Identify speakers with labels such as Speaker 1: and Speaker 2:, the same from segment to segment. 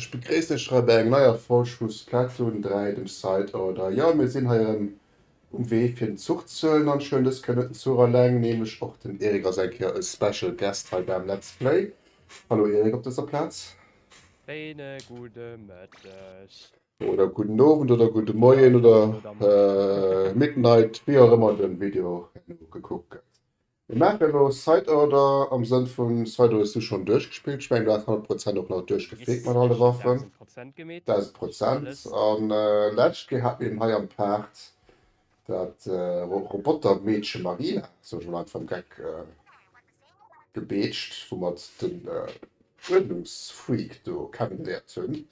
Speaker 1: Ech begréissen iech hei bei eng neier Folg vu Splatoon 3, dem Side Order. Jo, mir sinn hei erëm um Wee fir den Zuch ze huelen an schwéngen dës Kéier net den Zuch alleng, nämlech och den Eric ass eng Kéier e Special Guest hei beim Let's Play. Hallo Eric op dëser Plaz. Schéine
Speaker 2: gudde Mëtteg. Oder gudden
Speaker 1: Owend oder gudde Moien oder
Speaker 2: Midnight, wéi
Speaker 1: och ëmmer de Video gekuckt gëtt. Mir maachen elo Site Order am Sënn vun Site Order si schonn duerchgespillt. Ech mengen do ass 100 Prozent och nach duerchgefleet mat alle Waffen, 1.000
Speaker 2: Prozent. An
Speaker 1: d'lescht Kéier hat mir eben hei am Paart dat Robotermeedche Marina, sot ech mol einfach am Geck, gebeetscht, wou mer den Uerdnungsfreak do kennengeléiert hunn.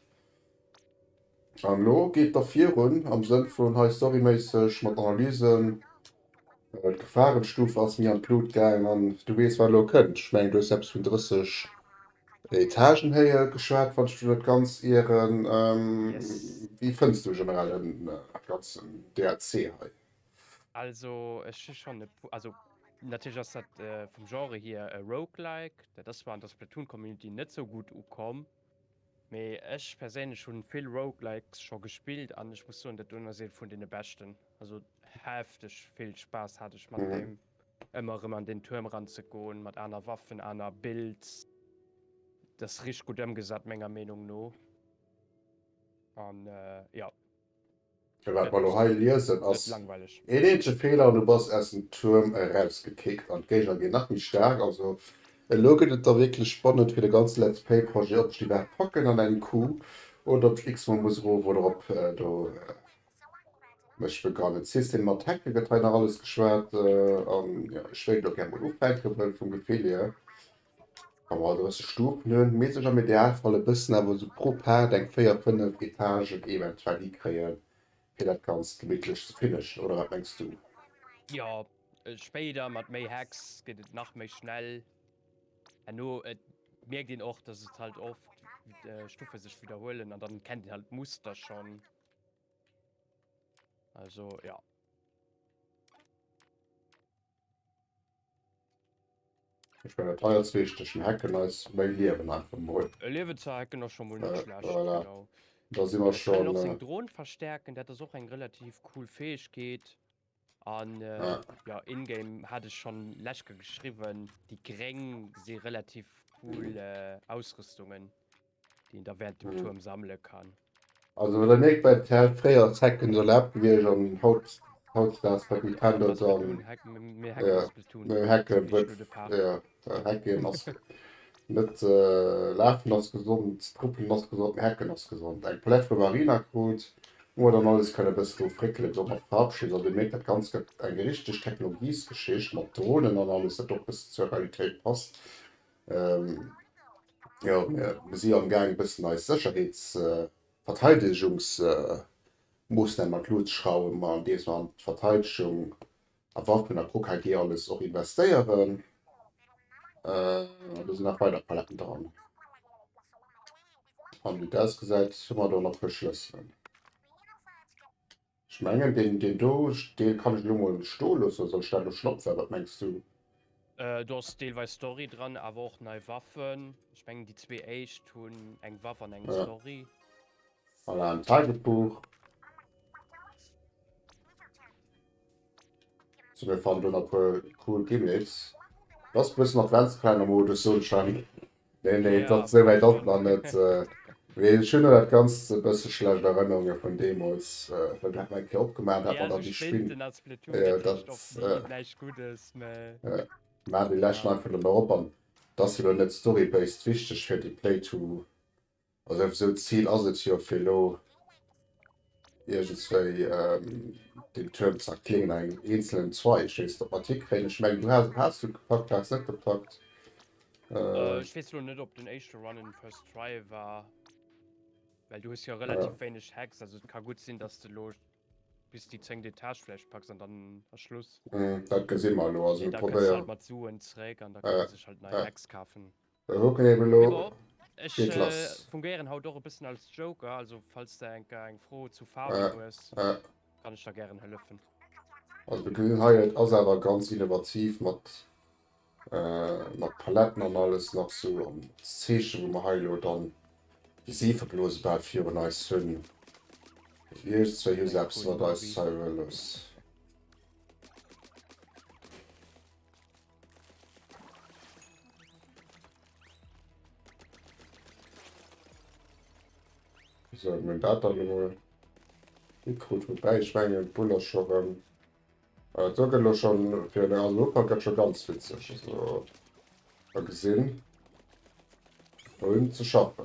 Speaker 1: An elo geet da virun am Sënn vun hei storyméisseg mat Analysen. D'Gefahrensstufe ass mir an d'Lut gaangen an du weess wat elo kënnt. Ech mengen du hues eppes vun 30 Etagen Héije geschwat wann ech mech net ganz ieren.
Speaker 2: Wéi fënns du
Speaker 1: generell den ganzen DLC hei? Also
Speaker 2: ech hu schonn e puer, also natierlech ass dat vum Genre hier e Roguelike, dat ass zwar an der Splatoon Community net sou gutt ukomm, Mee ech perséinlech hunn vill Roguelikes scho gespillt an ech muss soen dat doen ass een vun den beschten, also hefteg vill Spaass hat ech mat deem ëmmer
Speaker 1: erëm
Speaker 2: an den Tuerm ran ze goen mat aner Waffen, aner Builds, dat ass richteg gutt ëmgesat menger Meenung no an jo.
Speaker 1: Mee wat mer elo hei liesen
Speaker 2: ass
Speaker 1: een
Speaker 2: eenzege
Speaker 1: Feeler
Speaker 2: an du
Speaker 1: bass aus dem Tuerm erausgekickt an d'Géigner ginn nach méi staark. Also elo gëtt et da wierklech spannend fir de ganze Let's Play Projet, ob ech déi iwwerhaapt packen an engem Coup oder ob ech x-mol muss erof oder erop do mech begrawen. System mat Hacke gëtt hei nach alles geschwat an jo, ech wéilt elo gär mol ufänken, well vum Gefill hier Wa mer 30 Stufen hunn, misst ech am Idealfall e bëssen awer esou pro Paart eng 4, 5 Etagen eventuell hikréien, fir dat Ganzt gemittlech ze finishen, oder wat mengs du? Jo,
Speaker 2: spéider mat méi Hacks gëtt et nach méi schnell. Herno mierkt een och, dass et halt oft Stuffe sech widderhuelen an dann kennt een halt d'Muster schonn. Also ja.
Speaker 1: Ech meng dat alles richteg, den Hacken eis méi Liewen einfach mol. E Liewen ze hacken ass scho
Speaker 2: mol net schlecht, genau. Äh, voilà. Da
Speaker 1: si
Speaker 2: mer schonn.
Speaker 1: Ech kann och seng Drohn
Speaker 2: verstärken, dat ass och eng relativ cool Fäegkeet. An jo,
Speaker 1: in-game
Speaker 2: hat ech schonn lechke geschriwwen, déi Gréng si relativ cool Ausrüstungen. déi een da während dem Tuerm sammele kann. Also well der mierkt
Speaker 1: bei der Terre fréier ass Hecken do erlaabt gewiescht an haut hautdesdaags wat mech pendert da
Speaker 2: meng Hecken huet
Speaker 1: jo
Speaker 2: Hecken
Speaker 1: ass net lafen ass gesond Truppelen ass gesond mee Hecken ass gesond eng Palette vu Marina krut wou mer dann alles kënne bëssen do fréckele bis op mat Faarf schinn also mierkt dat ganzt gëtt eng richteg Technologiesgeschicht mat Dronen an alles dat och bëssen zur Realitéit passt. Jo, mir si jo amgaang, e bëssen eis Sécherheetsverteidegungsmoossname mat Luucht ze schrauwen, andeems mer an d'Verteidegung a Waffen a KKG alles och investéieren. An do sinn nach weider Paletten dran. An wéi dat ausgesäit, hu mer do nach Verschlëss. Ech mengen deen deen do dee kann ech elo mol sto loossen, soll ech dat elo schnopfen, wat mengs du? Do ass
Speaker 2: deelweis Story dran awer och nei Waffen. Ech mengen déi zwee éischt hunn eng Waff an eng Story. Voilà
Speaker 1: en Tagebuch. Sou mir fannen do nach e puer cool Gimmicks. Ass e bëssen Adventskalennermodus soen ech dann. Nee, nee, et ass souwäit op
Speaker 2: an et,
Speaker 1: well ech hunn dat Ganzt e bësse schlecht Erënnerunge vun deemools, well do hu mer eng Kéier opgemaach, dat war da déi Spinn,
Speaker 2: dat maachen déi
Speaker 1: leschten einfach net méi op an
Speaker 2: et
Speaker 1: ass jo elo net storybased wichteg fir déi Play-to. Also esou d'Zil ass et jo fir elo iergendswéi den Tuerm ze erkléngen an engem eenzelen Zweig. Ech weess net ob mer d'hi kréien. Ech mengen du has, haas du gepackt, du has net gepackt. Ech weess elo net ob
Speaker 2: den éischte Run en first try war, well du hues jo relativ wéineg Hacks.
Speaker 1: Also et ka
Speaker 2: gutt sinn datt s de elo bis déi zéngt Etage vläicht packs an dann ass Schluss. Dat gesi mer
Speaker 1: elo. Also mir probéieren. Mat Suen
Speaker 2: zréck an da kann ee sech halt nei Hacks kafen. Ok elo geet lass. Fungéieren
Speaker 1: haut och e bëssen
Speaker 2: als Joker, also falls de enker eng Fro zu Faarwen hues, kann ech der
Speaker 1: gären
Speaker 2: hëllefen. Also de
Speaker 1: Grill hei, et ass awer ganz innovativ mat mat Paletten an alles nach sou an als Zeechen wou mer hei elo dann déi Seefeblose bal virun eis hunn. Iech zwéi hu se eppes mat eis hei huelos. So, mein Data nur. Ich gut vorbei, ich meine, Buller schon. Ähm, äh, da gehen wir schon für eine Europa, geht schon ganz witzig. Also, mal gesehen. Vorhin zu schaffen.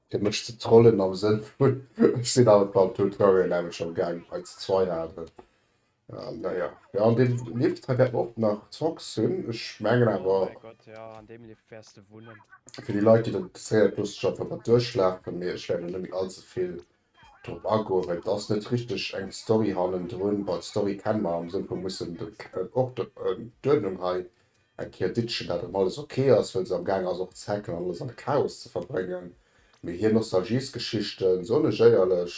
Speaker 1: Dir mëscht ze trollen am Sënn vun, ech sinn awer d'Band hutt, war mir nämmlecht am Gaang hei ze zweit awer naja. Jo an deem Lift hei wäert mer och nach Zombies hunn, ech mengen awer
Speaker 2: fir déi Leit déi dat
Speaker 1: interesséiert loosse ech einfach mat duerchlafen, mee ech wäert elo net méi allzevill drop agoen, well et ass net richteg eng Story hannendrun, bon d'Story kenne mer am Sënn vu mir mussen d'Uerdnung hei Eng Kéier ditt chen dat erëm alles ok ass, well se am gaang ass och ze hacken an alles am Chaos ze verbréngen. Mee hir Nostalgiesgeschichten se onegéierlech.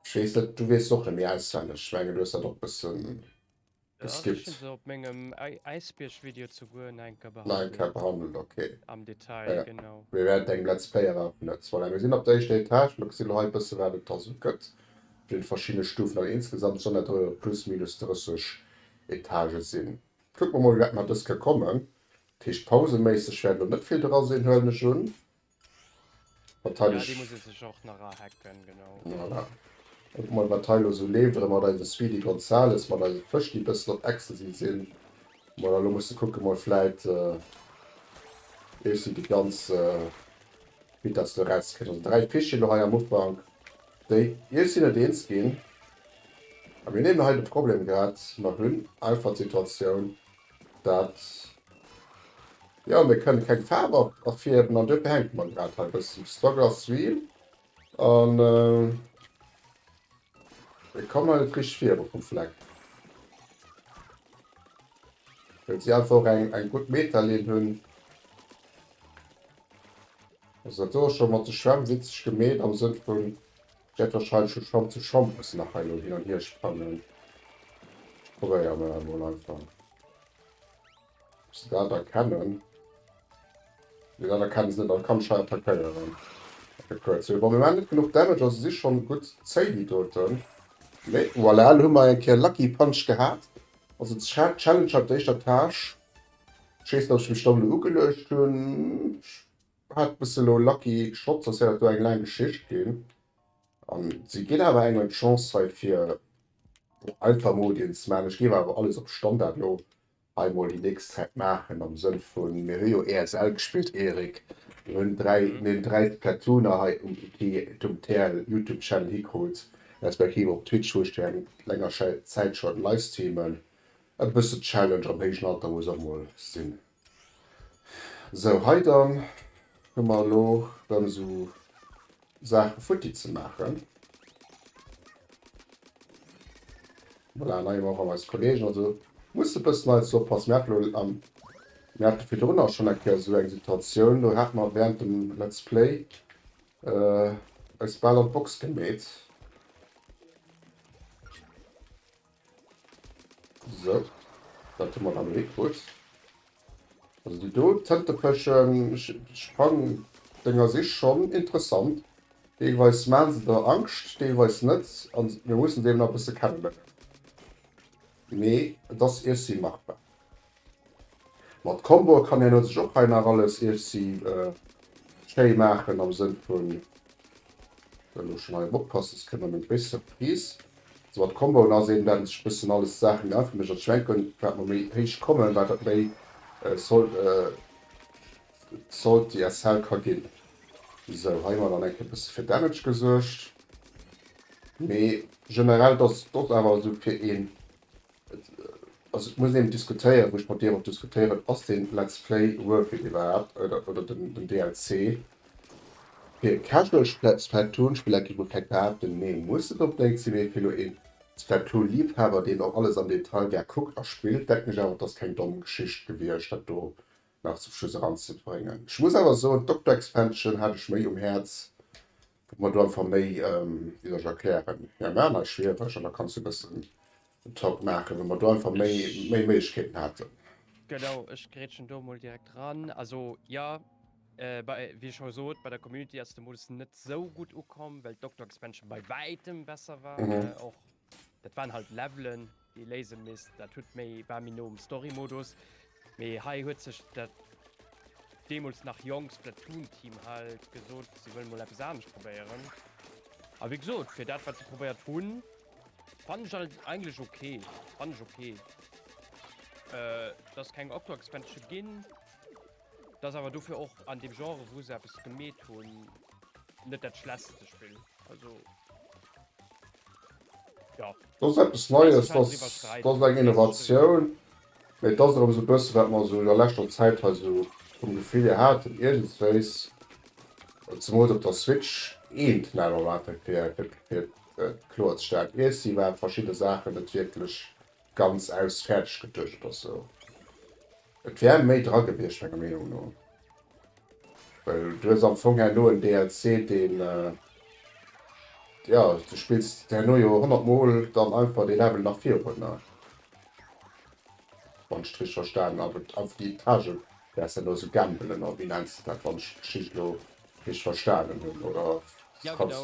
Speaker 1: Ech weess net, du weess se och net méi auswenneg. Ech mengen du hues dat och bëssen geskippt. Nach
Speaker 2: eng Kéier behandelt,
Speaker 1: ok.
Speaker 2: Ah
Speaker 1: jo,
Speaker 2: mir wäerten
Speaker 1: engem Let's
Speaker 2: Player
Speaker 1: awer vun der Zweiler. Mir sinn op der éischter Etage, mir gesi lo hei bësse wat et da sou gëtt op deene verschiddene Stufen. An insgesamt sollen dat erëm plus minus 30 Etagen sin. Kucken mer mol wéi dat mat dës ka kommen. Dat heescht pauseméisseg wäert lo net vill dra sin huelen ech un.
Speaker 2: Wahrscheinlech. Voilà.
Speaker 1: Kucken mer wat hei lo sou leeft oder mat eise Sweety Gonzales, mat eise Fësch déi bëssen op Ecstasy sin. Voilà lo musse kucke mol vläit ech si déi ganz Vitesse do rauskréien. Also 3 Fish si lo hei am Ufank. Déi Iech sinn et eens ginn. A mir nehmen hei de Problem grad, mer hunn einfach d'Situatioun, dat, jo, mir kënnen keng Faarf erfiärden an duerfir hänke mer grad hei e bëssen. De Struggle ass real a mir kommen hei net richteg viru vum Fleck, well si einfach och eng gutt Meta-Linn hunn. Also dat soe ech scho mat de Schwämm witzeg gemeet am Sënn vun, ech wäert wahrscheinlech vu Schwamm zu Schwamm mussen nach hei lo hin an hier sprangen. Ech probéieren dat emol einfach. Ob se dat erkennen? Nee, dat erkenne se net. Also kann ech hei attackéieren. Fir kuerz ze hunn. Bon, mir maachen net genuch Damage, also si schonn gutt zéi, déi doten. Mee voilà, elo hu mer eng Kéier Lucky Punch gehat. Also d'Challenge haut, d'éischt Etage. Schéins dass ech mech dann elo ugeluecht hun, ech hat bessen elo lucky Shots, ass ja do eng laang Geschicht gin an si gin awer engem d'Chance hei fir einfach Modien ze man. Ech géif awer alles op Standard elo hei mol déi nächst Zäit maachen am Sënn vun mir hu jo ESL gespillt Erik, mir hun 3 mir hun 3 Splatoon er hei um Wiki et um TL Youtube Channel hikrut respektiv op Twitch wou ech déi eng länger Zäit schon livestreamen E bësse Challenge am héijen Alter muss och mol sinn. Sou, hei dann hu mer elo dann sou Saache futti ze maachen. Voilà, nei Member vum eise Kollegen. Also muss e bëssen hei ze oppassen. Mir haten elo, mir hate virdrun och schonn eng Kéier sou eng Situatioun, do hate mer während dem Let's Play eis bal an d'Box gemeet. So, dat hu mer dann elo higewuess. Also déi do Tëntepëschen, ech fann deng a sich schonn interessant. Deelweis maache se der Angscht, deelweis net. A mir mussen se eben nach e bësse kennenléieren. Mee et ass, ech si machbar. Mat Comboe kann een sech och hei nach alles iech si schéi maachen am Sënn vun der elo schon hei op oppassen se kënnt nach eng gréisst Surprise. Also mat Comboen ass een dann sech bëssen alles d'Saachen grad fir mech an d'Schwänken wat mer méi héich kommen wat dat méi Salty SL ka ginn. Sou hei hu mer dann eng Kéier bësse fir Damage gesuergt mee generell dass et och awer sou fir een. Also et muss een diskutéieren, wou ech mat dir och diskutéieren, ass deen Let's Play worth it iwwerhaapt oder den DLC? Fir e casual Splatoon Spiller géif ech vläit behaapten, nee muss et op néit sinn, mee fir elo een Splatoon Liebhaber deen och alles am Detail gär kuckt a spillt, denken ech awer et ass keng domm Geschicht gewiescht dat do nach zum Schluss eranzebréngen. Ech muss awer soen d'Octo Expansion hat ech méi um Häerz Kuck mer do einfach méi, wéi soll ech erklären, ja mir aner schwiereg an da kanns du e bëssen en Talk maachen, wou mer do einfach méi Méiglechkeeten haten. Genau, ech
Speaker 2: grätschen do emol direkt eran. Also jo, wéi scho gesot, bei der Community ass de Modus net esou gutt ukomm, well d'Doktor-Expansion bei wäitem besser war. Och
Speaker 1: dat
Speaker 2: waren halt Levelen, Déi léisen misst. Dat huet méi war méi no um Story Modus mee hei huet sech dat deemools nach jonk Splatoon Team halt gesot se wëll mol eppes anescht probéieren a wéi gesot fir dat wat se probéiert hunn fan ech alt eigentlech okay fan ech okay äh, dass keng Octo Expansion ginn. Dat ass awer dofir och an deem Genre, wou se eppes gemeet hunn, net dat schlechtste Spill. Also, jo. Dat ass eppes Neies,
Speaker 1: dat ass
Speaker 2: eng
Speaker 1: Innovatioun. Mee et ass och esou e bësse wat mer esou an der leschter Zäit hei esou vum Gefill hier haten, iergendswéis, zemools op der Switch, een Knall erwaart, fir et kloerzestäellen. Iesse war verschidde Saachen net wierklech. ganz aus fäerdeg getuecht oder sou. Et wär méi dra gewiescht menger Meenung no, well du hues am Fong herno en DLC, deen, jo, du spills herno jo 100 mol dann einfach dee Level nach virunner, wann ech et richteg verstanen hunn, awer einfach déi Etage wäerts herno esou gambelen oder wéi nenns de dat, wann ech d'Geschicht elo richteg verstanen hunn oder
Speaker 2: kanns.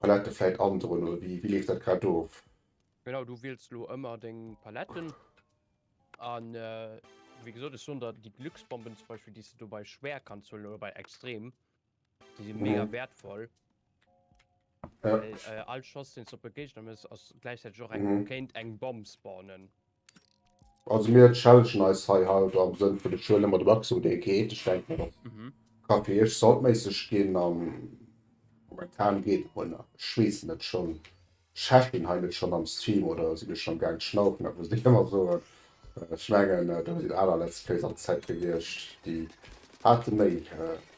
Speaker 1: Palette vläit androen oder wéi leeft dat grad of? Genau, du wiels
Speaker 2: lo ëmmer deng Paletten an wéi gesot ech soen der déi Glücksbomben zum Beispill déi s de do bei schwär kanns huelen oder bei extrem, déi si mega wäertvoll.
Speaker 1: Well all
Speaker 2: Schoss deen s de op e Géigner mëss ass gläichzäiteg och eng kéint eng Bomm
Speaker 1: spawnen. Also mir challengen eis hei haut am Sënn vun de Schuele mat Waxum dee geet. Ech denken och ka fir iech saltméisseg ginn a momentan geet et mol nach. Ech weess net schonn, Chef ginn hei net schonn am Stream oder si mir schonn gaang schnaufen, dat muss een ëmmer soen. Ech mengen do sinn aner Let's Plays an Zäit gewiescht déi hate méi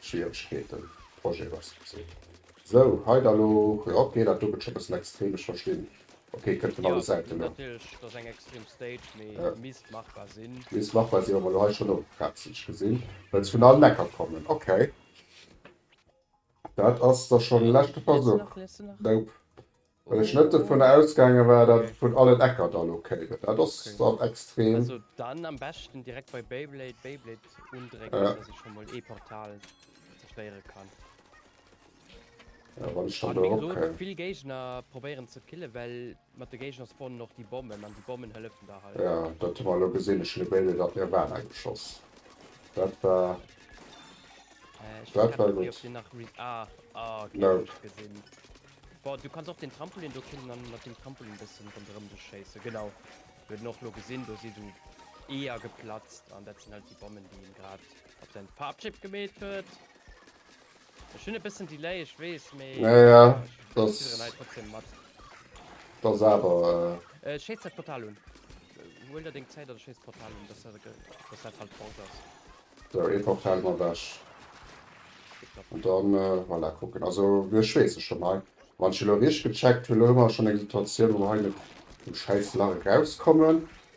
Speaker 1: Schwieregkeeten Projet Waxum ze hunn. Sou hei da lo, jo ok dat do gëtt scho bëssen extrem, ech verstinn. Okay, kënnt vun alle Säiten no. Natierlech,
Speaker 2: et
Speaker 1: ass eng extrem
Speaker 2: Stage, mee et misst machbar
Speaker 1: sinn.
Speaker 2: Misst machbar sinn, wa mer elo hei
Speaker 1: schonn opretzeg gesinn, well se vun allen Ecker kommen. Okay. Dat ass da schonn e leschte Versuch. Nope. Well ech net dovun ausgaange war, datt et vun allen Ecker da elo kéim. Dat ass dann extrem. Also dann am
Speaker 2: beschten direkt bei Beyblade Beyblade undrécken, datt ech scho mol ee
Speaker 1: Portal
Speaker 2: zerstéiere kann.
Speaker 1: Vill Géigner
Speaker 2: probéieren ze kille well mat de Géigner spawnen och déi Bommen an déi Bommen hëllefen der hei. Ja dat hu mer lo gesinn,
Speaker 1: ech hunn e Bailet dat mir war engem geschoss dat war
Speaker 2: dat
Speaker 1: war gutt
Speaker 2: Du kanns och den Trampolin do killen an mat dem Trampolin bëssen ronderëm dech schéisse genau Mir hunn och lo gesinn do si du Eeër geplatzt an dat sinn halt déi Bommen déi een grad op säin Farpschiff gemeet huet. Ech hunn e bëssen Delay, ech weess, mee ech
Speaker 1: fidderen hei
Speaker 2: trotzdem
Speaker 1: mat.
Speaker 2: Dat ass
Speaker 1: awer. Ech schéiss dat Portal
Speaker 2: un. Huel der deng Zäit an schéiss d'Portal un, dass dat halt fort ass. Sou, ee Portal ass
Speaker 1: ewech. An dann, voilà, kucken. Also, ech weess et schonn hei. Wann ech elo richteg gecheckt hunn, elo hu mer schonn eng Situatioun, wou mer hei net dem schäiss Lach erauskommen.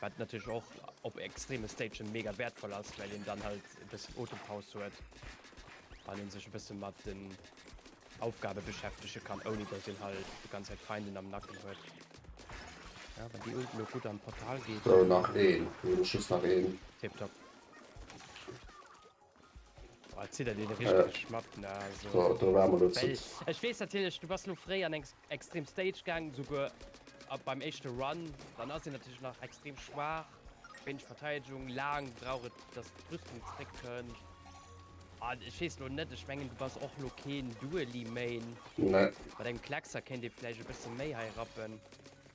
Speaker 2: Wat natierlech och op extreme Stagen mega wäertvoll ass, well een dann halt e bëssen Otempaus huet an ee sech e bësse mat den Aufgabe beschäftege kann, ouni datt een halt déi ganz Zäit Feinden am Nacken huet. Ja, wann déi Ult elo gutt an d'Portal geet. Sou, nach een.
Speaker 1: Elo just nach een. Tiptop.
Speaker 2: Ech
Speaker 1: wees
Speaker 2: natierlech
Speaker 1: du bass
Speaker 2: lo fréi an eng extrem Stage gaang souguer ab beim echte Run dann ass en natierlech nach extrem schwaach wéineg Verteidegung laang brauch et datt d'Rüstung zréck kënnt an ech weess lo net ech mengen du bass och lo keen Duelie Main nee
Speaker 1: mat engem Kleckser
Speaker 2: kéint ee vläicht e bësse méi hei rappen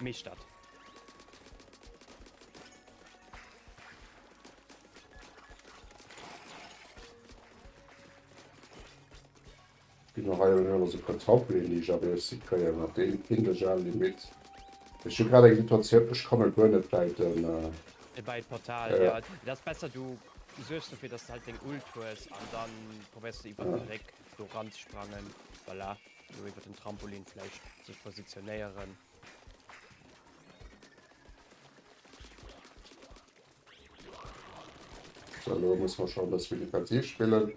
Speaker 2: Meeschtert.
Speaker 1: Ginn och hei un ech alles e puer Trampoline déi ech abeerssi kréien mat deem hin de Gel Limit ech hu grad eng Situatioun ech komme guer net bäi den bäi d'Portal
Speaker 2: jo et ass besser du suergs dofir dass du halt deng Ult hues an dann probéiers de iwwert de Bréck do ran ze sprangen voilà. Lo iwwert den Trampolin vläicht sech positionéieren.
Speaker 1: So, lo muss man schon bis wie defensiv spillen.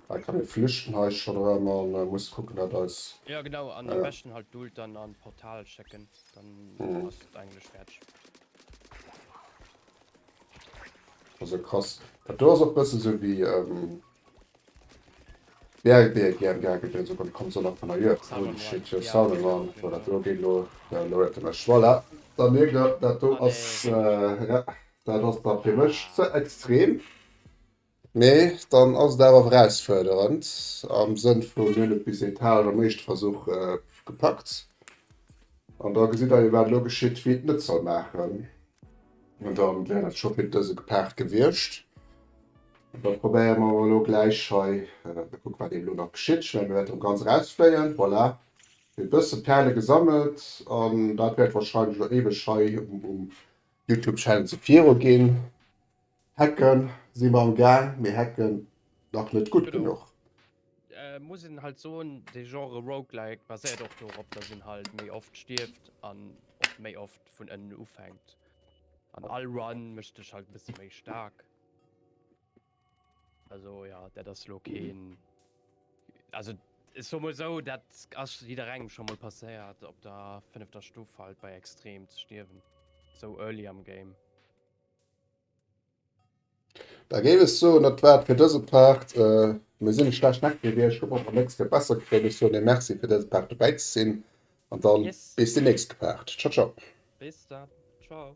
Speaker 1: Hei kann e flüchten hei schon rem man äh, muss gucken dat eis. Ja genau an am äh, besten
Speaker 2: halt dult dann an Portal checken dann mm. ass englisch fertig.
Speaker 1: Also krass. Dat do ass och bësse so wie ähm, Yeah, et wier gären gaange fir esou beim Konsol an Kanner Jue Holy shit your sound an an wou dat do geet lo da lo huet e mech voilà da mierkt der dat do ass yeah dat ass da fir mech ze extrem mee dann ass et awer erausfuerderend am Sënn vun mir hunn et bis Etage am éischte Versuch gepackt an da gesitt der jo wat elo geschitt wie et net soll maachen an da wär dat scho fir dëse gepaart gewiescht. Da probéiere mer awer elo gläich hei e kuck, wat eeben elo nach geschitt. Ech menge mir wäerte elo ganz erausfléien. Voilà, e bësse Pärele gesammelt an dat wäert wahrscheinlech elo éiweg hei um Youtube-Channel ze viru ginn. Hacke si mer am Gaang, mee hacken nach net gutt genuch.
Speaker 2: Muss een halt soen, de Genre Roguelike baséiert och dorop, dass een halt méi oft stierft an och méi oft vun ënnen ufänkt. An all Run mécht dech halt e bësse méi staark. Also ja, dat ass lo keen. Also es war mal so, dat ass jeder engem schon mal passéiert op der fünfter Stufe halt bei extrem ze stierwen. So early am Game.
Speaker 1: Da géif ech soen, dat war et fir dëse Part. Äh, mir sinn e schlecht Deck gewiescht. Ech hoffen op der nächste fir besser ze kréien. Ech soen ee Merci fir dëse Part dobäi ze sinn an
Speaker 2: dann
Speaker 1: Yes. bis déi nächst Part.
Speaker 2: Ciao,
Speaker 1: ciao. Bis dann. Ciao.